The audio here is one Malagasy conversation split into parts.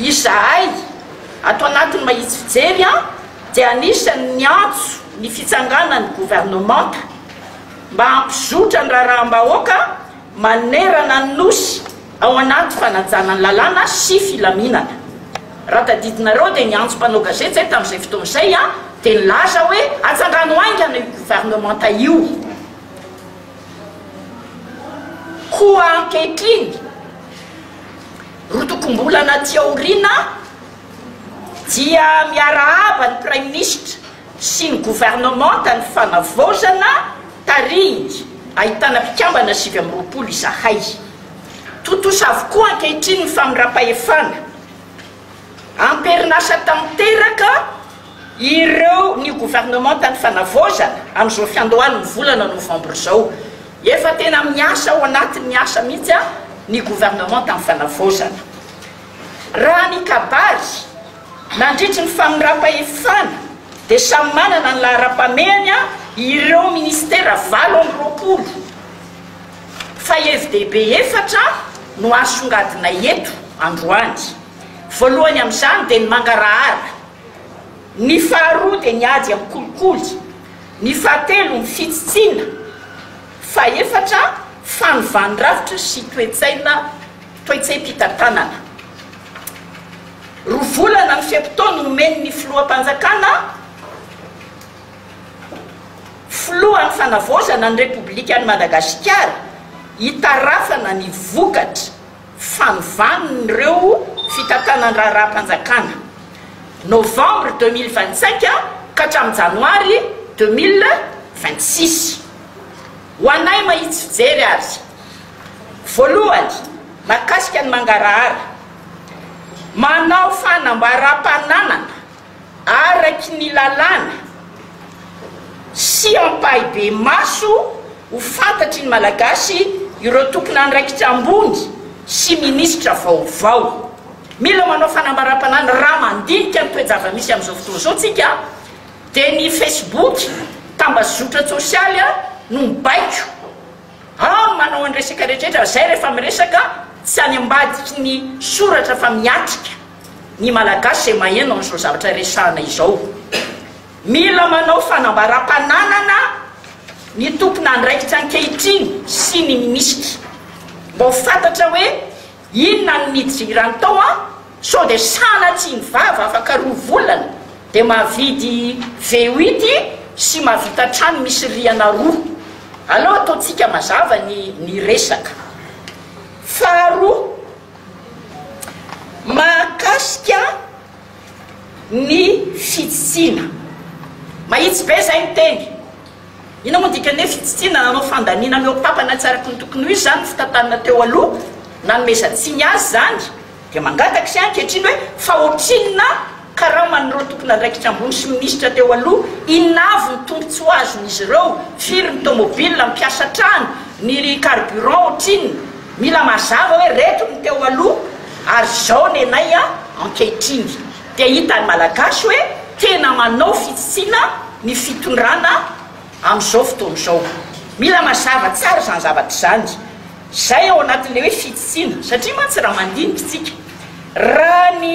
Izahay, ato anatin'ny Mahitsy Fijery an, dia anisan'ny niantso ny fitsanganan'ny governemanta mba hampizotra ny raharaham-bahoaka manerana ny Nosy ao anaty fanajana ny lalàna sy filaminana. Raha tadidinareo dia ny antso mpanao gazety izay tamin'izay fotoana izay an, dia nilaza hoe atsangano haingana io governemanta io. Koa ankehitriny, Roa tokom-bolana aty aoriana dia miarahaba ny Praiminisitra sy ny governemanta ny fanavaozana tarihiny ahitana mpikambana sivy amby roapolo izahay. Tontosa avokoa ankehitriny ny famirampahefana. Amperinasa tanteraka. Ireo ny governemanta ny fanavaozana amin'izao fiandohan'ny volana novambra izao. Efa tena miasa ao anatin'ny asa mihitsy ny governemanta ny fanavaozana. Raha ny kabary, nandritry ny famindram-pahefana dia samy manana ny laharam-pamehany ireo minisitera valo amby roapolo fa hevi-dehibe efatra no asongadinay eto androany. Voalohany amin'izany dia ny mangarahara. Ny faharoa dia ny ady amin'ny kolikoly, ny fahatelo ny fitsitsiana, fahefatra fanovàn-drafitra sy toe-tsaina, toe-tsaim-pitantanana. Roa volana ny fe-potoana omen'ny Filoham-panjakana, Filohan'ny Fanavaozana ny Repoblikan'i Madagasikara, hitarafana ny vokatra. fanovàna ireo fitantanan-draharaham-panjakana, novembre deux mille vingt cinq ka hatramin'ny janoary deux mille vingt six. Ho anay mahitsy fijery ary, voalohany, mahakasika ny mangarahara, manao fanambaràm-pananana araky ny lalàna sy ampahibemaso ho fantatry ny Malagasy ireo tompon'andraikitra ambony sy minisitra vaovao. Mila manao fanambaram-panahy ny raha mandinika ny toe-java-misy amin'izao fotoana izao tsika dia ny Facebook, tambazotra tsosialy, no mibaiko amin'ny manao an'ny resaka rehetra rehetra izay rehefa miresaka tsy any ambadiky ny soratra fa miatrika. ny Malagasy izay maheno an'izao zavatra resahana izao. Mila manao fanambaram-pananana ny tompon'andraikitra ankehitriny sy ny minisitra mba ho fantatra hoe inona no nidirany tao an, sao dia sanatsiany vava afaka roa volana dia mahavidy V8 sy mahavita trano misy rihana roa. Aleo ataontsika mazava ny ny resaka. Faharoa. Mahakasika ny fitsitsiana. Mahitsy be izay miteny. Inona moa ny dikan'ny hoe fitsitsiana? Nanao fandaniana ny hopapana tsy araka ny tokony ho izy izany ny fitantanana teo aloha, nanomezan-tsiny azy izany, dia mangataka isika ankehitriny hoe fa ohatrinona Karaman'ireo tompon'andraikitra ambony sy minisitra teo aloha, inona avy ny tombontsoa azon'izy ireo, firy ny tomobil mpiasa hatrany, ny carburant ohatrinona, mila mazava hoe reto ny teo aloha ary izao ny anay ankehitriny, dia hitan'ny malagasy hoe tena manao fitsitsiana ny fitondrana amin'izao fotoana izao. Mila mazava tsara izany zavatra izany, izay ao anatin'ilay hoe fitsitsiana, satria mantsy raha mandinika isika, raha ny.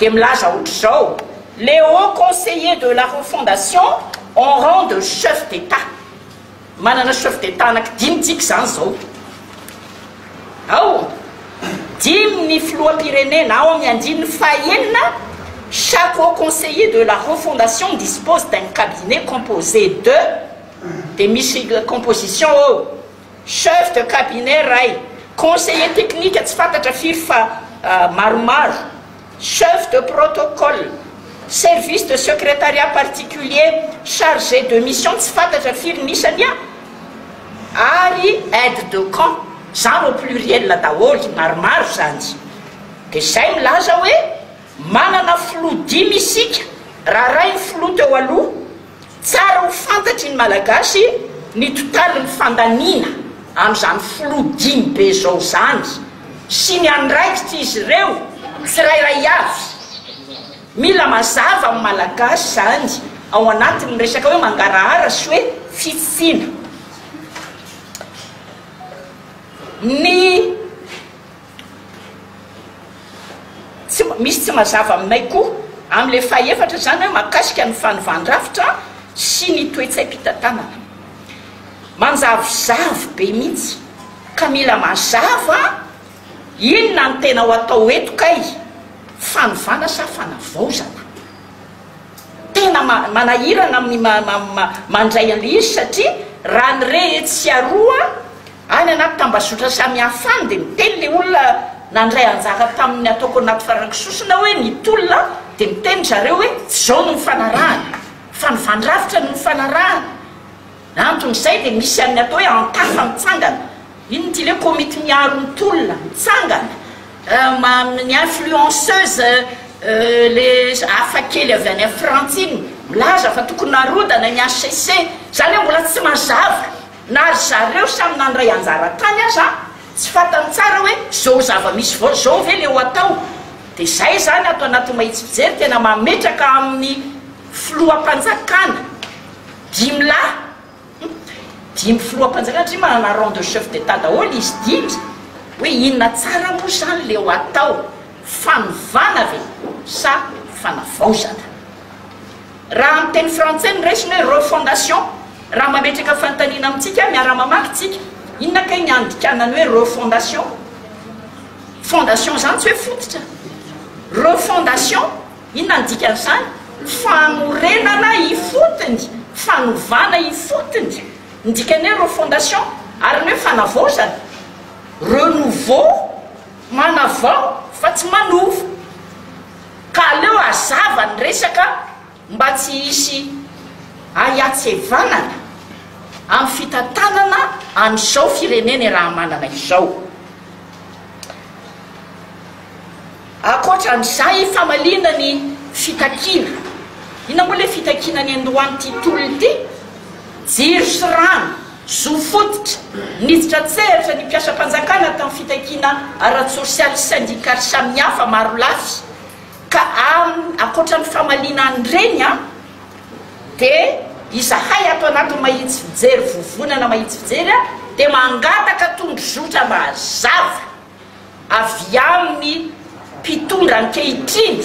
dia milaza otrzao, le haut conseiller de la refondation en rang de chef d'Etat. Manana chef d'Etat anaky dimy tsika izany izao. Ao, dimy ny filoham-pirenena ao amin'ny andininy fahaenina, chaque haut conseiller de la refondation dispose d'un cabinet composé de, dia misy composition ao, Chef de cabinet iray, conseiller technique tsy fantatra firy fa maromaro, chef de protocole, service de secrétariat particulier, chargé de mission tsy fantatra firy ny isany an! ary aide de camp, izany au pluriel daholo, maromaro izany. Dia izay milaza hoe manana filoha dimy isika raha arahin'ny filoha teo aloha, Tsara ho fantatry ny Malagasy ny totalin'ny fandaniana an'izany filoha dimy be izao izany sy ny andraikitr'izy ireo tsirairay avy. Mila mazava amin'ny Malagasy izany ao anatin'ny resaka hoe mangarahara sy hoe fitsitsiana. Ny. Misy tsy mazava aminay koa amin'ilay fahefatra izany mahakasika ny fanovan-drafitra sy ny toe-tsaim-pitantanana. Manjavozavo be mihitsy ka mila mazava inona no tena ho atao eto kay, fanovana sa fanavaozana? Tena manahirana ny mandray an'ilay izy satria raha ny re etsy sy aroa, Any anaty tambazotra samihafa any dia miteny ilay olona nandray anjara tamin'ny ataoko anaty farankisosona hoe ny tolona dia miteny zareo hoe tsy izao no mifanarahana fa ny vandrafitra no mifanarahana na anton'izay dia misy an'ny atao hoe antafa mitsangana inona ity le komity miaro ny tolona mitsangana amin'ny influenceuse le hafa kely avy any Frantsa iny milaza fa tokony narodana ny HCC izany hoe mbola tsy mazava Na ry zareo samy nandray anjara tany aza tsy fantany tsara hoe zao zava-misy vao zao ve le ho atao. De zay zany ato anaty mahitsy fijery tena mametraka amin'ny filoham-panjakana dimy lahy hum dimy filoham-panjakana satria manana rang de chef d'Etat daholo izy dimy hoe inona tsara moa zany le ho atao fanovana ve sa fanavaozana. Raha amin'ny teny frantsay ny resiny hoe refondation, raha mametraka fanontaniana amintsika, miara-mamaky tsika, inona kay ny andikanan'ny hoe refondation? Fondation izany tsy hoe fototra. Refondation, inona ny dikan'izany? Fanorenana ifotony, fanovana ifotony ny dikan'ny hoe refondation. Ary ny hoe fanavaozana, renouveau. Manavao fa tsy manova. Ka aleo hazava ny resaka mba tsy hisy ahiatsevanana amin'ny fitantanana an'izao firenene Rahamanana izao. Ankoatran'izay famaliana ny fitakiana. Inona moa ilay fitakiana ny androany ity tolona ity? Jiro sy rano. Zo fototra, Niditra an-tsehatra ny mpiasam-panjakana tamin'ny fitakiana ara-tsosialy sy sendikaly samihafa marolafy ka amin'ny ankoatra ny famaliana an'ireny dia izahay ato anatin'ny mahitsy fijery vovonana mahitsy fijery dia mangataka tondrozotra mazava. avy amin'ny mpitondra ankehitriny,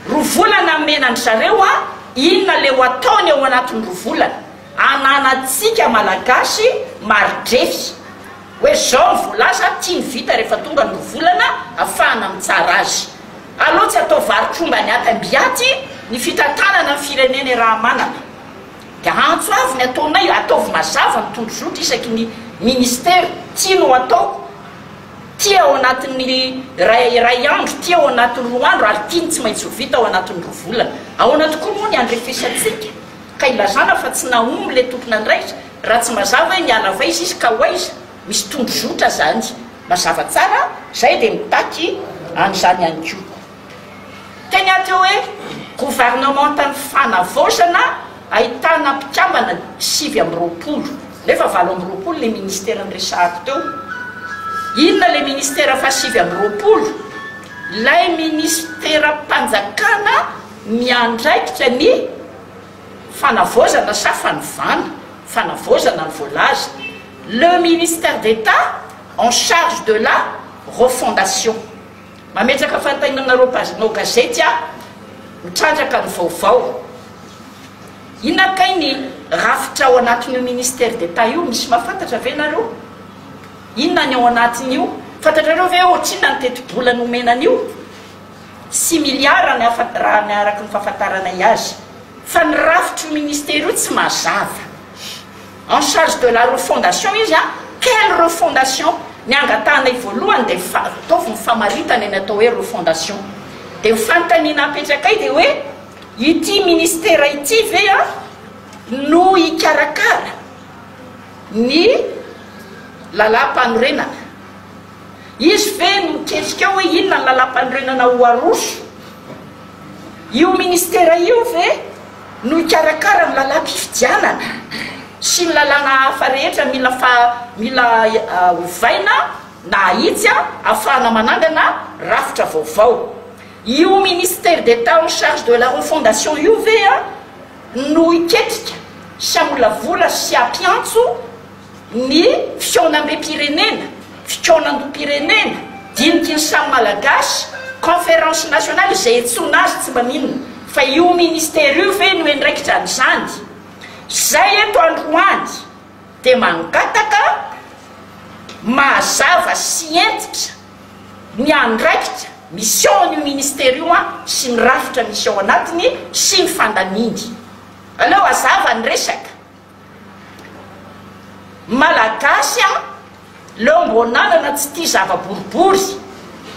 roa volana nomena an-dry zareo an, inona le ho ataony ao anatin'ny roa volana, ananantsika malagasy mari-drefy hoe zao ny voalaza, tiany vita rehefa tonga ny roa volana afahana mitsara azy, aleo tsy atao varo-tromba any aty amby aty ny fitantanana ny firenena e Rahamanana. Dia antso avy ny ataonay, ataovy mazava ny tondrozotra isaky ny Ministera, ty no ataoko, ty ao anatin'ny iray iray andro, ty ao anatin'ny roa andro ary ty ny tsy maintsy ho vita ao anatin'ny roa volana. Ahoana tokoa moa ny andrefisantsika ka ilazana fa tsy nahomby ilay tompon'andraikitra raha tsy mazava hoe niala avy aiza izy ka ho aiza? Misy tondrozotra zany mazava tsara a! Zay dia mitaky an'izany ihany koa. Teny aty hoe governemantan'ny fanavaozana ahitana mpikambana sivy amby roapolo nefa valo amby roapolo le ministera niresahako teo. Inona le ministera faha sivy amby roapolo? Ilay ministeram-panjakana miandraikitra ny fanavaozana sa fanovana? Fanavaozana no voalaza. Le ministère d'Etat en charge de la refondation. Mametraka fantainana ireo pazinao gazety aho, mitrandraka ny vaovao. Inona kay ny rafitra ao anatin'io Ministère d'Etat io? Misy mahafantatra ve nareo? Inona ny ao anatin'io? Fantatrareo ve ohatrinona ny tetibola nomena an'io? Six milliards ny hafa raha ny araka ny fahafantaranay azy. Fa ny rafitry io Ministère io tsy mazava. En charge de la refondation izy an! Quelle refondation? Ny angatahanay voalohany dia ny fa, ataovy ny famaritana ny atao hoe refondation. Dia ny fanontaniana apetrakay dia hoe ity ministera ity ve an no hikarakara ny Lalàmpanorenana? Izy ve no miketsika ao hoe inona ny lalam-panorenana ho aroso? Io ministera io ve no hikarakara ny lalam-pifidianana sy ny lalàna hafa rehetra mila mila ovaina na ahitsy ahafahana manangana rafitra vaovao? Io ministère d'Etat en charge de la refondation io ve no hiketrika sy hamolavola sy hampiantso Ny fihaonambem-pirenena, fikaonandoham-pirenena, diniky ny samy Malagasy, conférence nationale izay iantsoana azy tsy mba mino fa io ministera io ve no endraikitra an'izany? Zay eto androany dia mangataka mahazava sy hentitra ny andraikitra misy ao an'io ministera io an sy ny rafitra misy ao anatiny sy ny fandaniany. Aleo hazava ny resaka. Malagasy a! Leo mbo nanana tsy tia zava boribory,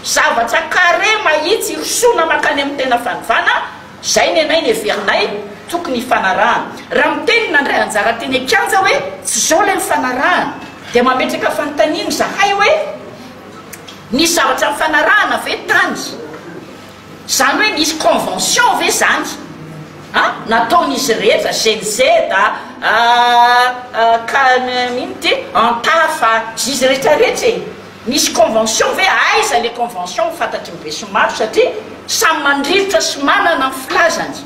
zavatra carré mahitsy hirosoana mankany amin'ny tena fanovana, zay nenay neverinay tokony hifanarahana. Raha miteny ny nandray anjara teny an-kianja hoe tsy zao ilay nifanarahana, dia mametraka fanontaniana izahay hoe, nisy zavatra nifanarahana ve tany? Zany hoe nisy convention ve zany an nataon'izy rehetra gen z a ka inn ty an tara fa zizy rehetra rehetra e nisy convention ve aiza le convention ho fantatry ny besinimaro satria samy mandrirotra sy manana ny filazany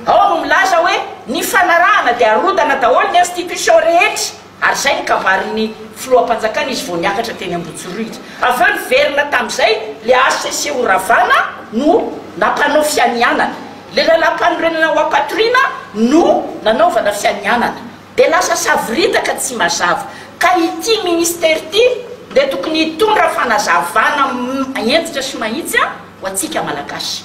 ao no milaza hoe nifanarahana de arodana daholo ny institution rehetra Ary izay ny kabarin'ny filoham-panjakana izy vao niakatra teny Ambohijorohitra. Avy eo niverina tamin'izay le HCC ho Ravana no nampanao fianianana. Le lalampanorenana ho ampatoriana no nanaovana fianianana. De lasa savoritaka tsy mazava. Ka ity ministera ity le tokony hitondra fanazavana hentitra sy mahitsy ho antsika Malagasy.